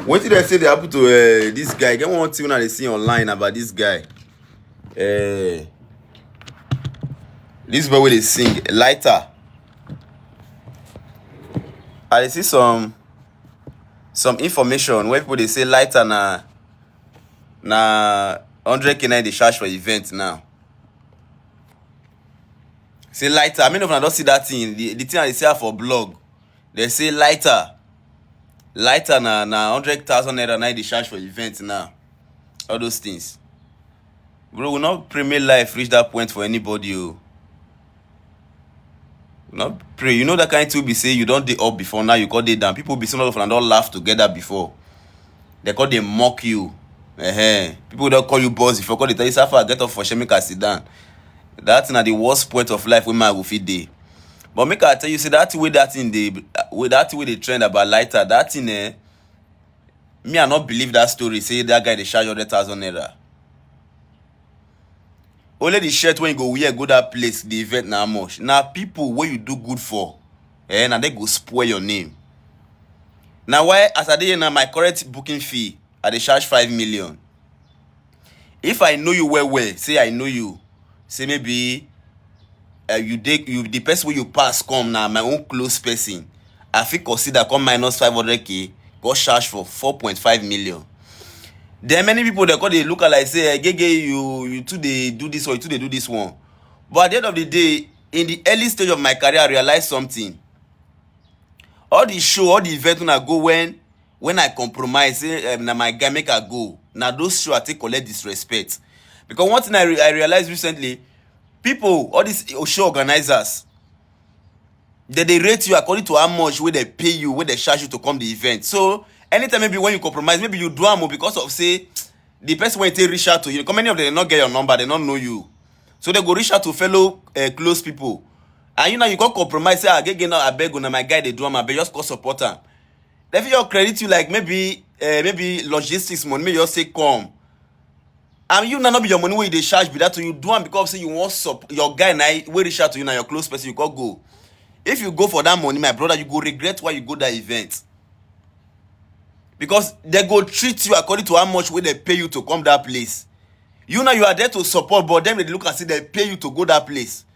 wetin dem say dey happen to uh, this guy get one thing una dey see online about this guy uh, this boy wey dey sing lighter i dey see some some information wey people dey say lighter na na hundred k na dey charge for event now say lighter many of una don see that thing the, the thing i dey see am for blog Dem say lighter, lighter na na hundred thousand naira na dey charge for event now. All those things. Bro, we not pray make life reach that point for anybody. Oh. Not pray. You know that kind to be say you don't dey up before now you got it down. People be some of them don't laugh together before. They call they mock you. Uh-huh. People don't call you boss before call they tell you Safa get up for Shemika sit down. That's not the worst point of life when my will fit day. But make I tell you say that thing wey that thing dey wey that thing wey dey trend about lighter that thing eh me I no believe that story say that guy dey charge hundred thousand naira. Only the shirt wey you go wear go that place the event na how much na people wey you do good for eh na dem go spoil your name. Na why as I dey here now my current booking fee I dey charge five million If I know you well well, say I know you, say maybe uh, you dey you the person wey you pass come na my own close person, I fit consider come minus five hundred k go charge for four point five million. Then many people dey come dey look am like say eh, gege you you too dey do this one, you too dey do this one. But at the end of the day, in the early stage of my career, I realize something. All the show, all the event una go when when I compromise say um, na my guy make I go, na those show I take collect disrespect. Because one thing I, re I realized recently, people, all these show organizers, they, they rate you according to how much where they pay you, where they charge you to come the event. So anytime maybe when you compromise, maybe you do am because of say the person when they reach out to you, because many of them not get your number, they don't know you. So they go reach out to fellow uh, close people. And you know you can't compromise, say, I ah, get now, I beg you, now my guy they do am, I beg just call support am. They fit just credit you like maybe uh, maybe logistics money, maybe just say come. And you now not be your money where you dey charge be that to you do am because say you want sup your guy now where reach out to you now your close person you call go. If you go for that money, my brother, you go regret why you go that event. Because they go treat you according to how much will they pay you to come that place. You now you are there to support, but them they look and see they pay you to go that place.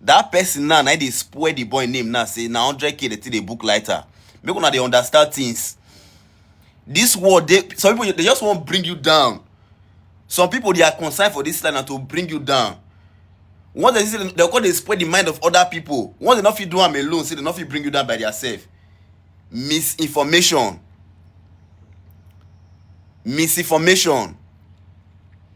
that person now na dey spoil the boy name now say na 100k dey take dey book lighter make una dey understand things this world dey some people they just wan bring you down some people they are concerned for this life na to bring you down once they see say they come dey spoil the mind of other people once they no fit do am alone say they no fit bring you down by theirself misinformation misinformation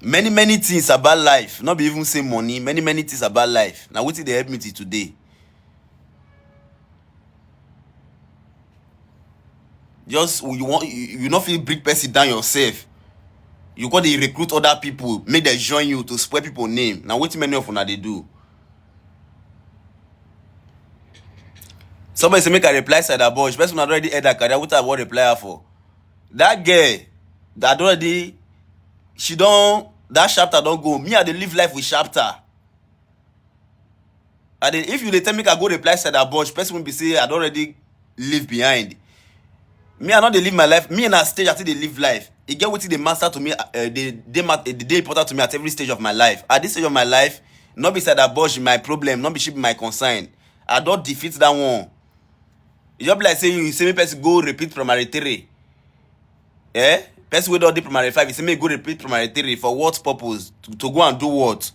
Many many things about life, not be even say money, many many things about life. Now wetin dey help me till today. Just you want you, you no fit bring person down yourself. You go dey recruit other people make dem join you to spoil people name. Na wetin many of una dey do. Somebody say make I reply Sada boy. She person already heard that career. What I want reply her for? That girl that already she don't that chapter don't go. Me I dey live life with chapter. I dey if you dey tell me I go reply Sada boy. She person will be say I don't already leave behind. Me, I no dey live my life. Me na stage I take dey live life. E get wetin dey matter to me, uh, dey dey mat- eh, dey important to me at every stage of my life. At this stage of my life, no be Sada Bosh be my problem, no be she be my concern. I don defeat that one. E just be like say you say make person go repeat primary three. eh person wey don dey primary five you say make you go repeat primary three for what purpose to, to go and do what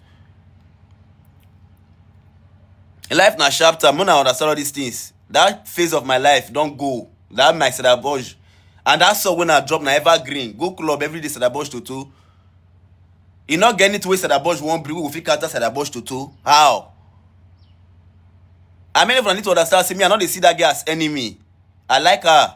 life na sharp time una understand all these things that phase of my life don go that my sadaboj and that song wey na drop na evergreen go club everyday sadaboj toto e no get anything wey sadaboj wan bring wey go fit counter sadaboj toto how i mean if una need to understand say me i no dey see that girl as enemy i like her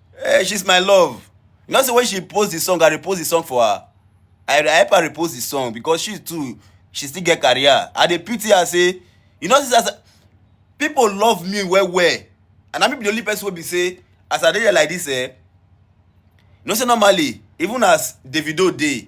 Hey, she's my love. You know, so when she posts the song, I repost the song for her. I, I help her repost the song because she too, she still get career. I dey pity her say, you know, since as I- people love me well well, and I be the only person wey be say, as I dey here like this, eh, you know, say normally, even as Davido dey,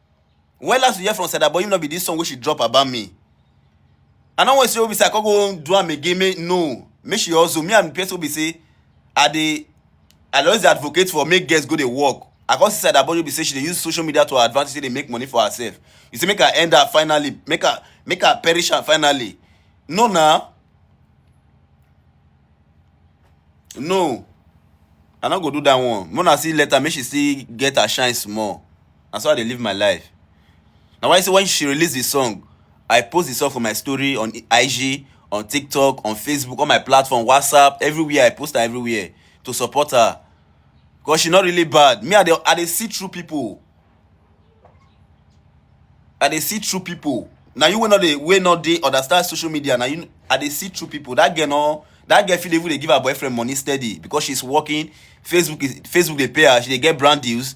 When last you hear from Sada Boy, no be this song wey she drop about me. I no want to say Obi say I can't go do am again. Make, no, make she also me and person Obi say I dey I always advocate for make girls go dey work. I can't see Sada Boy Obi say she dey use social media to her advantage, say dey make money for herself. You say make her end her finally, make her make her perish her finally. No, now. No, I no go do that one. Mona see later, make she see get her shine small. na so I dey live my life. Na why say when she release the song, I post the song for my story on IG, on TikTok, on Facebook, all my platform, WhatsApp, everywhere. I post her everywhere to support her. Because she not really bad. Me, I dey, I dey see through people. I dey see through people. Now you will not dey, will not dey understand social media. Now you, I dey see through people. That girl no, that girl fit even dey give her boyfriend money steady because she's working. Facebook is Facebook dey pay her. She dey get brand deals.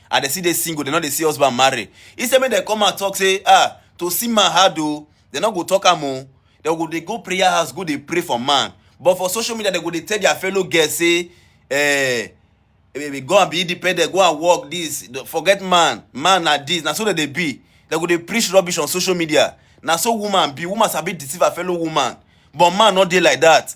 and dem still dey single dem no dey see husband marry instead make dem come and talk say ah to see man hard o dem no go talk am o dem go dey go prayer house go dey pray for man but for social media dem go dey tell their fellow girls say eh go and be independent go and work this forget man man na this na so dem dey be dem go dey preach rubbish on social media na so woman be woman sabi deceive her fellow woman but man no dey like that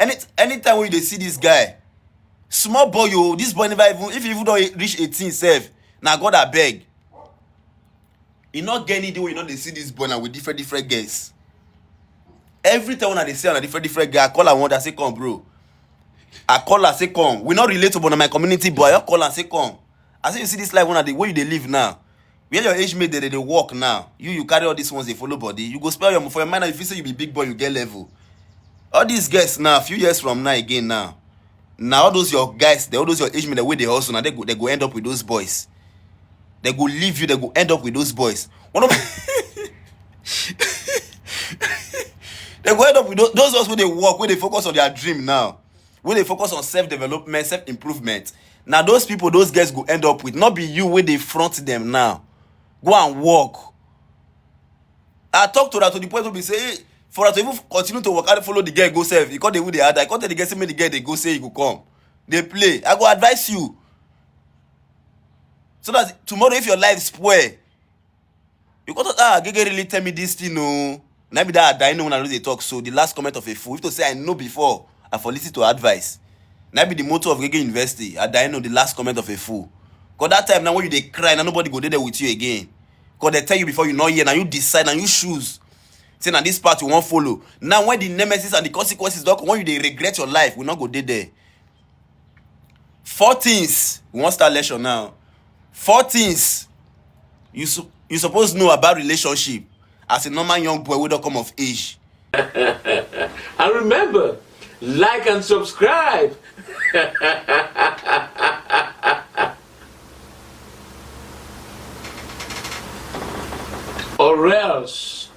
any anytime wey you dey see this guy small boy o this boy never even if he even don reach eighteen sef na God abeg e no get any day wey you no dey see this boy na with different different girls every time una dey see am na different different girl I call am one day I say come bro I call am say come we no relate o but na my community boy I just call am say come I say you see this life una dey wey you dey live now, where your age mate dey dey dey work now, you you carry all these ones dey follow body, you go spend your for your mind now you feel say you be big boy you get level. All these girls now few years from now again now na all those your guys all those your age mate dem wey dey hustle na dem go dem go end up with those boys. Dem go leave you dem go end up with those boys. One of dem go end up with those those ones wey dey work wey dey focus on their dream now wey dey focus on self development self improvement na those people those girls go end up with no be you wey dey front them now go and work i talk to her to the point wey be say hey, for her to even continue to waka follow the girl go sef e come dey even dey hard her i come tell the girl say make the girl dey go say e go come dey play i go advise you so that tomorrow if your life spoil You go talk, ah, Gege really tell me this thing, no. Na be that I know when I know they talk. So the last comment of a fool, if to say I know before, I for listen to advice. Na be the motto of Gege University. I die know the last comment of a fool. Cause that time now when you dey cry, now nobody go dey there with you again. Cause they tell you before you know here, now you decide, now you choose. Say now this part you won't follow. Now when the nemesis and the consequences don't come, when you dey regret your life, we not go dey there. four things we wan start lesson now four things you su you suppose know about relationship as a normal young boy wey don come of age. and remember like and subscribe. or else.